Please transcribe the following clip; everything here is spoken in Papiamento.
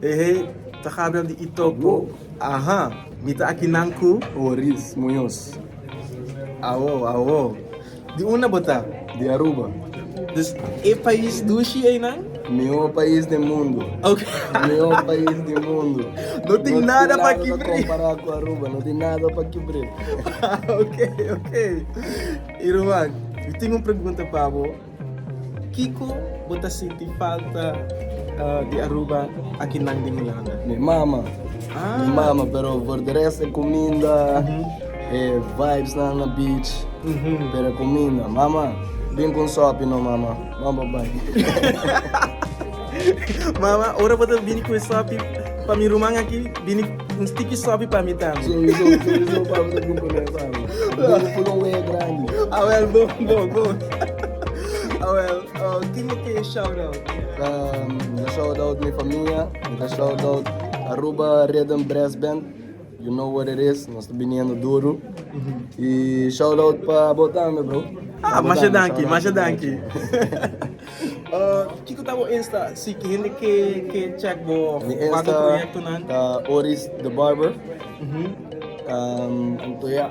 Ehe ta Gabriel di Itoco, aha, mi ta aki nan cu. Oris Muñoz, awo, awo, di unda bo ta? Di Aruba. Dus e pais dushi eynan? Mihor pais den mundo, mihor pais di mundo. No tin nada pa kibr'e. No tin nada pa compara cu Aruba, no tin nada pa kibr'e. Ok, ok, Irman, mi tin un pregunta pa bo. Kiko bo ta sinti falta di Aruba aki nan di Hulanda? Mi mama, mi mama pero for di rest e kuminda, e vibes nan na beach, pero e kuminda mama bin ku un sopi no mama, mama bai. Mama, ora bo ta bini ku e sopi pa mi ruman aki, bini un stiki sopi pa mi tambe. Soriso, soriso pa mi ta bin pone esa ami. Bo ku lo wei e grandi. Awèl, bon, bon, bon. Awèl, tin bo ke shout-out? Mi ta shout-out mi famia, mi ta shout-out Aruba Rhythm Brass Band. You know what it is nos ta biniendo duro y shout out pa bo tambe bro. Ah masha danki masha danki. Kiko ta bo insta si hende ke ke check bo water proyecto nan. Mi insta ta Oris the barber. Anto ya.